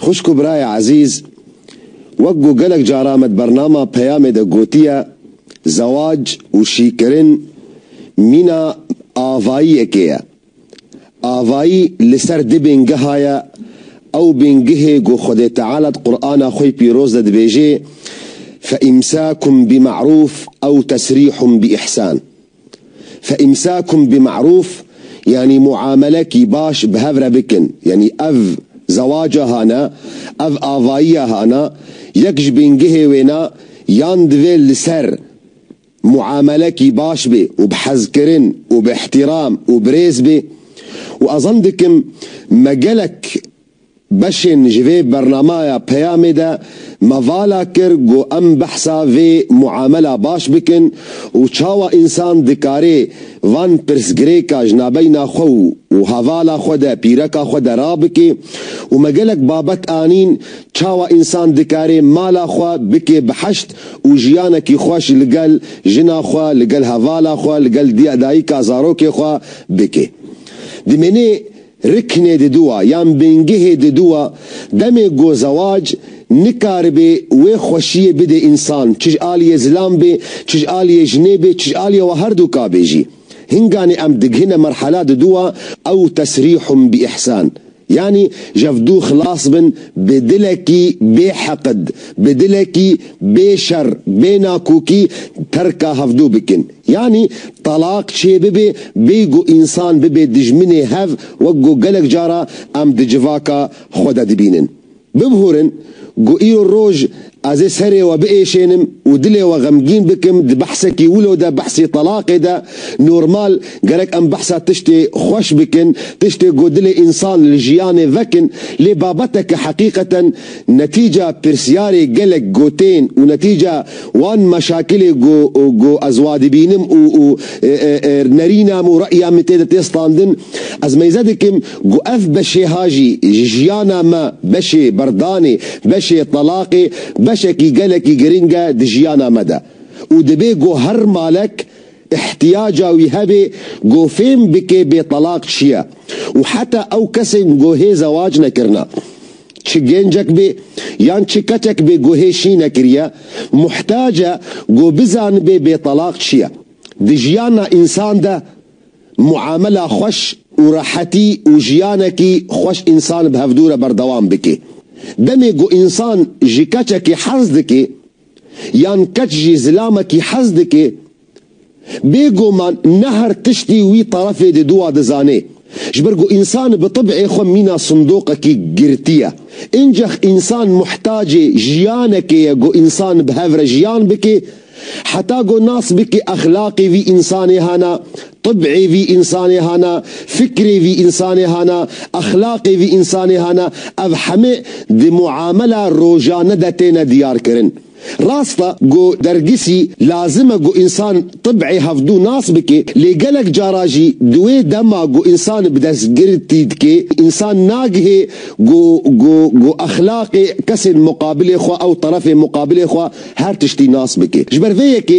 Xwişk û birayê ezîz, wek ku gelek caran me di bernama Peyamê de gotiye, zewac û şîkirin mîna avayiyekê ye. Avayî li ser du bîngeha ye, ew bîngehê ku Xwedê Teala di Qur'ana xwe yê pîroz de dibêjê, Feîmsâkun bî me'rûf ew tesrîhun bî îhsân. Fe îmsâkum bi me'rûf yanî muamelekî baş bi hev re bikin. Yanî ev zewaca hana, ev avayiya hana, yek ji bîngehê wêna yan divê li ser muamelekî baş bê û bi hezkirin û bi îhtîram û bi rêz bê û ez zan dikim me gelek Beşên ji vê bernamaya peyamê de me vala kir ku em behsa vê muamela baş bikin û çawa însan dikarê van pirsgirêka ji nabeyna xwe û hevala xwe de, pîreka xwe de rabikê û me gelek babet anîn çawa însan dikarê mala xwe bikê bi heşt û jiyanekî xweş li gel jina xwe, li gel hevala xwe, li gel diyadayika zarokê xwe bikê. Dimênê. Riknê diduwa yan bingihê diduwa demê go zewac nikaribê wê xweşiyê bidê însan çij aliyê zilam bê çij aliyê jinê bê çij aliyê wa herdu ka bê jî. Hinganê em dighine merhala diduwa ew tesrîhum bi îhsan yanî jev du xilas bin bi dilekî bê heqid bi dilekî bê şer bê nakokî terka hevdu bikin. Yanî telaq çê bibe bêy ku însan bibe dijminê hev wek ku gelek cara em di civaka xwe de dibînin. Bibûrin ku îro roj ez ê serê we biêşênim û dilê we xemgîn bikim di behsekî wilo de behsê telaqê de normal gerek em behsa tiştê xweş bikin tiştê ku dilê însan li jiyanê vekin lê babeteke heqîqeten Netîca pirsyarê gelek gotên û netîca wan meşakilê ku ku ez wa dibînim û û nerîna min û re'ya min tê de tê standin, ez meyze dikim ku ev beşêha jî ji jiyana me beşê berdanê, beşê telaqê, beşekî gelekî giring e di jiyana me de û dibê ku her malek îhtîyaca wî hebe ku fêm bike bê telaq çi ye û heta ew kesên ku hê zewac nekirine. Çi gencek bê yan çi keçek bê ku hê şî nekiriye, muhtac e ku bizanibe bêtelaq çi ye. Di jiyana însan de muamela xweş û rehetî û jiyanekî xweş însan bi hevdû re berdewam bike. Demê ku însan ji keçekî hez dike yan keç jî zilamekî hez dike Bê goman ne her tiştî wî terefê di dûa dizanê. Ji ber ku însan bi tib'ê xwe mîna sindoqekî girtî ye. Încex însan muhtacê jiyanekê ye ku însan bi hev re jiyan bikê. Heta ku nas bikê exlaqê vî însanê hana, tib'ê vî însanê hana, fikrê vî însanê hana, exlaqê vî însanê hana, ev heme di muamela rojane de têne diyarkirin. Rast e ku dergisî lazim e ku însan tib'ê hevdû nas bike lê gelek cara jî di wê dema ku însan bi destgirtî dike însan nagihe ku ku ku exlaqê kesên muqabilê xwe ew terefê muqabilê xwe her tiştî nas bike. Ji ber vê yekê.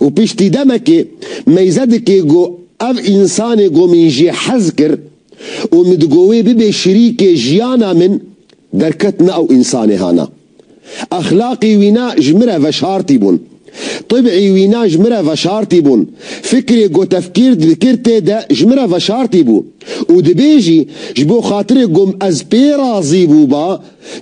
Û piştî demekê meyze dikê go ev însanê go min jê hez kir û min digo wê bibê şirîkê jiyana min derket na ew însanê hana. Exlaqî wî na ji min re veşartî bûn. Tibî wî na ji min re veşartî bûn. Fikrê go tefkîr dikir tê de ji min re veşartî bû. Û dibê jî ji bo xatirê go ez pê razî bûba,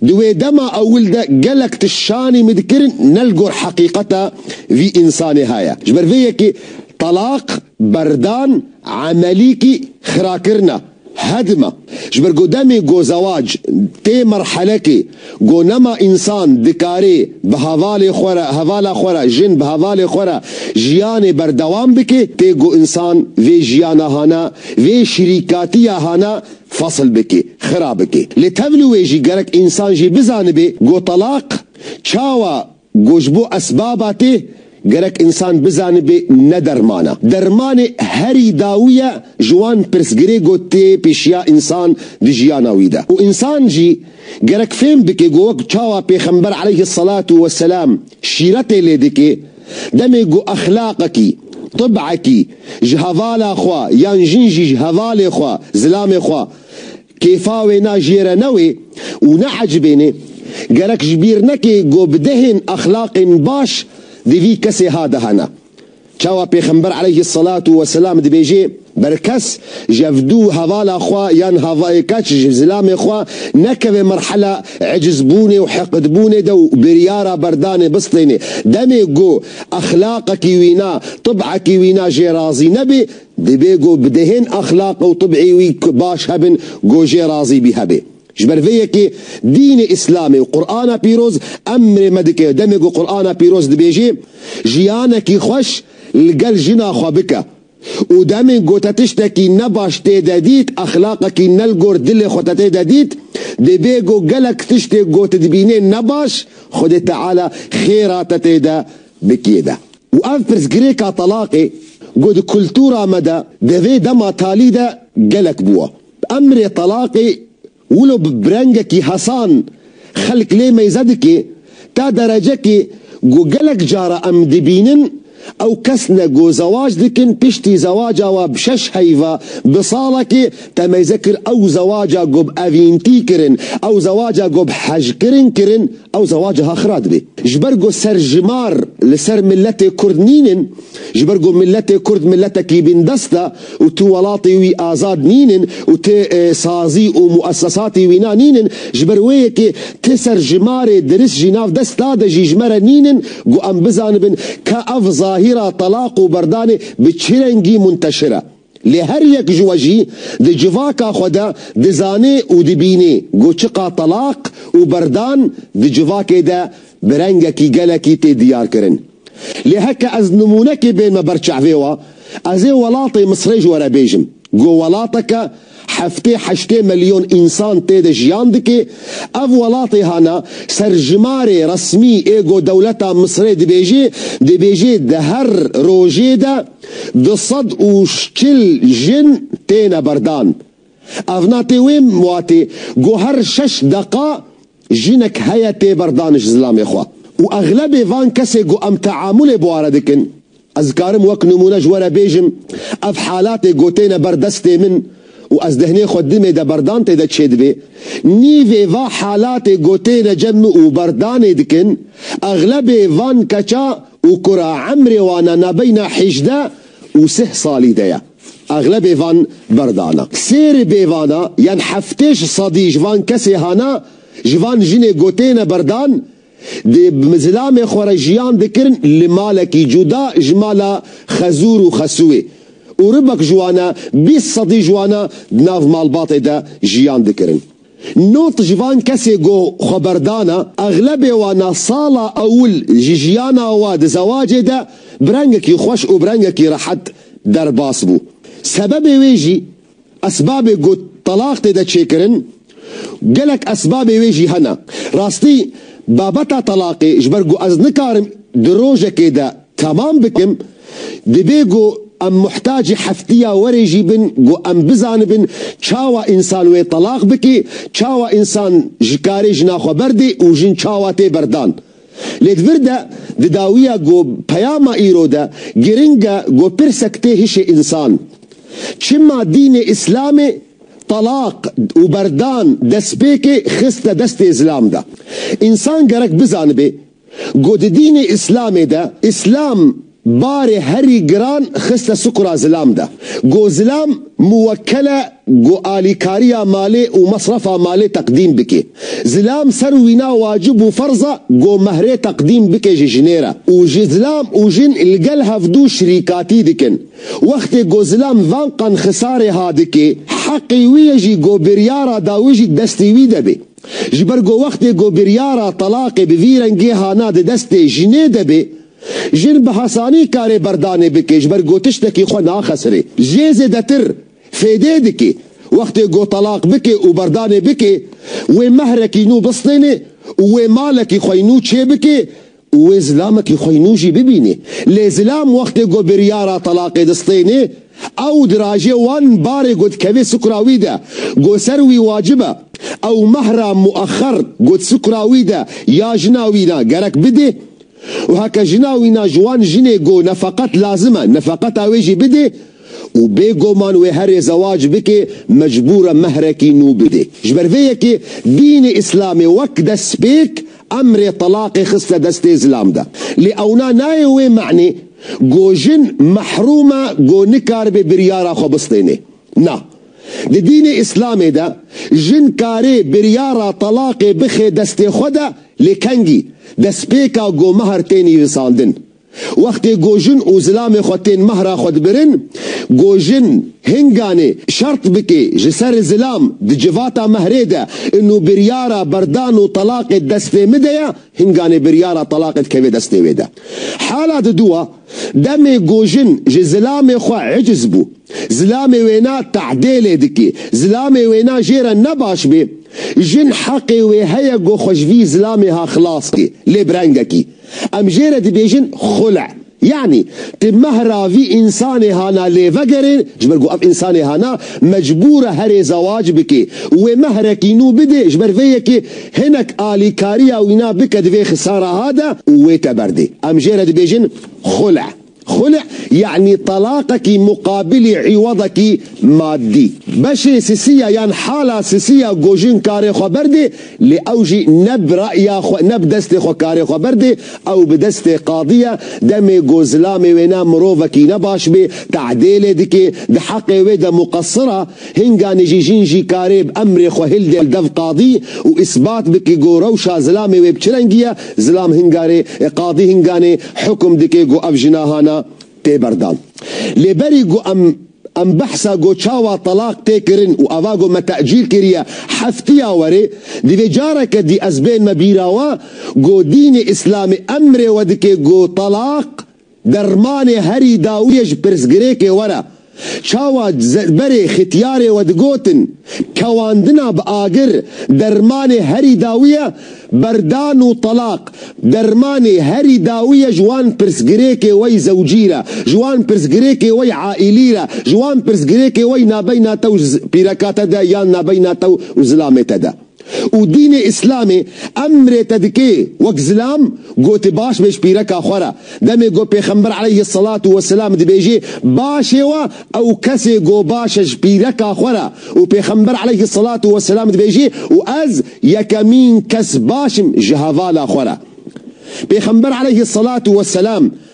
Di wê dema ewil de gelek tişt şanî min dikirin ne li gor heqîqeta vî însanê he ye. Ji ber vê yekê telaq berdan emelîkî xirakirina hedim e. Ji ber ku demê ku zewac tê merhelekê ku nema însan dikarê bi hevalê xwe re hevala xwe re jin bi hevalê xwe re jiyanê berdewam bike tê ku însan vê jiyana hana vê şirîkatiya hana Fesil bike, xira bike. Lê tev li wê jî gerek însan jî bizanibê ku telaq çawa ku ji bo esbaba tê, gerek însan bizanibê ne derman e. Dermanê herî dawî ye ji wan pirsgirê ku tê pêşiya însan di jiyana wî de. Û însan jî gerek fêm bike ku wek çawa Pêxember eleyhis selatu wesselam şîretê lê dike, Demê ku exlaqekî, tibekî, ji hevala xwe yan jin jî ji hevalê xwe, zilamê xwe, kêfa wê na jê re newê û neecibênê, gerek ji bîr neke ku bi dehên exlaqên baş di vî kesê ha de hene. Çawa Pêxember eleyhî selatu weselam dibêje. Ber kes ji ev dû hevala xwe yan havayê keç ji zilamê xwe nekeve merhela ecizbûnê û heqidbûnê de û biryara berdanê bistêne. Demê ku exlaqekî wîna, tib'ekî wîna jê razî nebê, dibê ku bi dehên exlaq û tib'ê wî baş hebin ku jê razî bî hebê. Ji ber vê yekê dînê îslamê û Qur'ana pîroz emrê me dike demê ku Qur'ana pîroz dibêje, Jiyanekî xweş li gel jina xwe bike. û demên ku te tiştekî ne baş tê de dît, exlaqekî ne li gor dilê xwe te tê de dît, divê ku gelek tiştê ku tu dibînê ne baş, Xwedê Teala xêra te tê de bikê de. Û ev pirsgirêka telaqê ku di kultura me de di vê dema talî de gelek bû e. Emrê telaqê Wilo bi brengekî hesan xelk lê meyze dike, ta derecekê ku gelek cara em dibînin ew kes ne ku zewac dikin piştî zewaca we bi şeş heyva bi salekê te meyze kir ew zewaca ku bi evîntî kirin, ew zewaca ku bi hejkirin kirin ew zewac ha xira dibe. Ji ber ku serjimar li ser miletê kurd nînin, Ji ber ku miletê kurd miletekî bîndest e û tu welatê wî azad nînin û tu sazî û muesesatê wîna nînin, ji ber wê yekê ti ser ji ma rê diris jî nav desta de jî ji me re nînin ku em bizanibin ka ev zahîra telaq û berdanê bi çi rengî munteşir e. Lê her yek ji we jî di civaka xwe de dizanê û dibînê ku çiqa telaq û berdan di civakê de bi rengekî gelekî tê diyarkirin. Lê heke ez nimûnekê bênme ber çavê we, ez ê welatê Misrê ji we re bêjim ku welateke Heftê heştê milyon însan tê de jiyan dike. Ev welatê hana ser jimarê resmî ê ku dewleta Misirê dibêje, dibêje di her rojê de du sed û çil jin têne berdan. Ev na tê wê watê ku her şeş deqa Jinek heye tê ber daniş zilamê xwe û exlebê van kesê ku em teamulê bi ware dikin, ez dikarim wek nimûne ji we re bêjim, ev halatê gotêne ber destê min û ez dehnê xwe dimê de berdan tê de çêdibê, nîvê va halatê gotêne cem min û berdanê dikin, exlebê van keça û kura emrê wan a nabeyna hîjdeh û sih salî de ye. Exlebê van berdana. Sêrê bêvana yan heftêş sadî ji van kesê hana, ji van jinê gotêne berdan, dê bi zilamê xwe re jiyan dikirin li malekî cuda ji mala Xezûr û Xesûwê û ribek ji wan e bîst sadî ji wan e di nav malbatê de jiyan dikirin. Not ji van kesê ku xwe berdana, exlebê wan a sala ewil ji jiyana we di zewacê de bi rengekî xweş û bi rengekî rehet derbas bû. Sebebê wê jî, esbabê ku telaq tê de çêkirin, gelek esbabê wê jî hene. Rastî, babeta telaqê ji ber ku ez nikarim di rojekê de Temam bikim, dibê ku em muhtacî heftiya werê jî bin ku em bizanibin çawa însan wê telaq bike, çawa însan ji karê jina xwe berdê û jin çawa tê berdan. Lê di vir de, di dawiya ku peyama îro de giring e ku pirsek tê hişê însan, Çima dînê Îslamê telaq û berdan destpêkê xiste destê zilam de? Însan gerek bizanibê Ku di dînê îslamê de îslam barê herî giran xiste sukura zilam de. Ku zilam muwekkel e ku alîkariya malê û mesrefa malê teqdîm bike. Zilam ser û wîna wacib û ferz e ku mehrê teqdîm bike ji jinê re û ji zilam û jin li gel hevdu şirîkatî dikin. Wextê ku zilam van qan xisarê ha dike, heqê wî ye jî ku biryara dawî jî destê wî de be. Ji ber ku wextê ku biryara telaqê bi vî rengê hana di destê jinê de bê, jin bi hesanî karê berdanê bike ji ber ku tiştekî xwe naxesirê. Jê zêdetir fêdê dike wextê ku telaq bike û berdanê bike, wê mehrekî nû bistêne û wê malekî xwe yî nû çêbike û wê zilamekî xweynû jî bibînê. Lê zilam wextê ku biryara telaqê distênê, ew dirajê wan barê ku dikevê sikura wî de ku ser wî wacib e, ew mehra muexer ku di sikura wî de ya jina wî ne gerek bidê û heke jina wî ne ji wan jinê ku nefeqet lazim e, nefeqeta wê jî bidê, û bê goman wê herê zewac bike mecbûr e mehrekî nû bide. Ji ber vê yekê dînê îslamê wek destpêk emrê telaqê xiste destê zilam de. Lê ewna nayê wê manê ku jin mehrûm e ku nikaribe biryara xwe bistêne. Na. Di dînê îslamê de jin karê biryara telaqê bixe destê xwe de lê kengî destpêka ku mehr tê nivîsandin Wextê gojin û zilamê xwe tên mehra xwe dibirin, gojin, hinganê, şert bikê, ji ser zilam, di civata mehrê de, inu biryara berdan û telaqê destê mi de ye, hinganê biryara telaqê dikeve destê wê de. Hala di dûa, demê gojin ji zilamê xwe eciz bû, zilamê wê na te'dêlê dikê, zilamê wê na jê re ne baş bê, jin heqê wê heye go xwe ji vî zilamê ha xilas kê, lê bi rengekî. Em jê re dibêjin xule. Yanî ti meh ra vî însanê hana lê vegerên ji ber ku ev însanê hana mecbûr e herê zewac bike û wê mehrekî nû bide ji ber vê yekê hinek alîkariya wîna bike di vê xisara ha de û wê te berdê. Em jê re dibêjin xule. Xulî yanî telaqekî muqabilî îwadekî madî. Beşê sisî ya yan hala sisî ya gojin karê xwe berdê lê ew jî ne bi re'ya xwe ne bi destê xwe karê xwe berdê, ew bi destê qadî ye, demê ku zilamê wêne mirovekî ne baş bê, te'dêlê dikê, di heqê wê de muqesir e. Hinganê jî jin jî karê bi emrê xwe hildê li dev qadî û îsbat bike ku rewşa zilamê wê bi çi rengî ye, zilam hingarê e, qadî hinganê hukm dike ku ev jina hana tê berdan. Lê berî ku em em behsa ku çawa telaq tê kirin û eva ku me tecîl kiriye heftiya werê, divê careke dî ez bênme bîra we ku dînê îslamî emrê we dike ku telaq, Dermanê herî dawiyê ji pirsgirêkê were. Çawa berê xitiyarê we digotin, kewandina bi agir, dermanê herî dawiyê berdan û telaq, dermanê herî dawiyê ji wan pirsgirêkê wey zewcî re, ji wan pirsgirêkê wey aîlî re, ji wan pirsgirêkê wey nabeyna te û pîreka te de yan nabeyna te û zilamê te de. Û dînê îslamê emrê te dike wek zilam goti baş bê ji pîreka xwe re. Demê ku pêxember eleyhi selatû we selam dibêje başê we ew kesê ku baş e ji pîreka xwe re û pêxember eleyhi selatû we selam dibêje û ez yekemîn kes baş im ji hevala xwe re. Pêxember eleyhi selatû we selam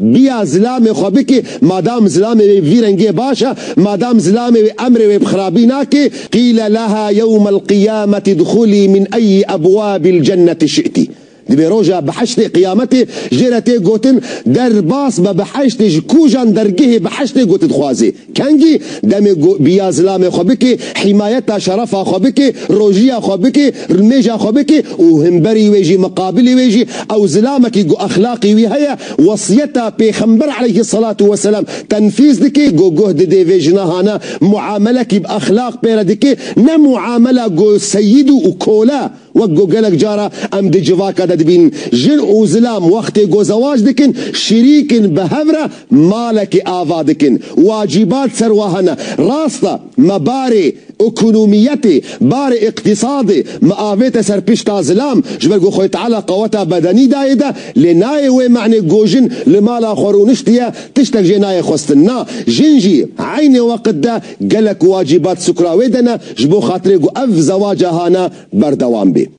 Biya zilamê xwe bikê, madam zilamê wê vî rengiyê baş e, madam zilamê wê emrê wê bi xirabî nakê, Qîl leha yewmel qiyameti dxulî min eyyi ebwabil cenneti şi'tî. Divê roja biheştê, qiyametê, jê re tê gotin, derbas be biheştê ji kujan dergehê biheştê gotin dixwazê. Kengî demê ku biya zilamê xwe bikê, hîmayeta şerefa xwe bikê, rojiya xwe bikê, rmêja xwe bikê û himberî wê jî miqabilî wê jî ew zilamekî ku exlaqî wî heye wesiyeta pêxember aleyhi selatû weselam tenfîz dikê ku guh didê vê jinahana muamelekî bi exlaq pêre dikê ne muamela ku seyîd û kole Wek ku gelek cara em di civaka de dibînin, jin û zilam wextê ku zewac dikin, şirîk in bi hev re malekê ava dikin. Wacîbat ser we hene. Rast e, me barê ekonomiyetê, barê îqtîsadê, me avête ser pişta zilam, ji ber ku Xwê Teala qeweta bedenî dayê de, lê nayê wê me'nê ku jin li mala xwe rûniştiye, tiştek jê nayê xwestin. Na, jin jî eynê weqt de, Gelek wacîbat sukra wê de ne ji bo xatirê ku ev zewaca hane berdewam bê.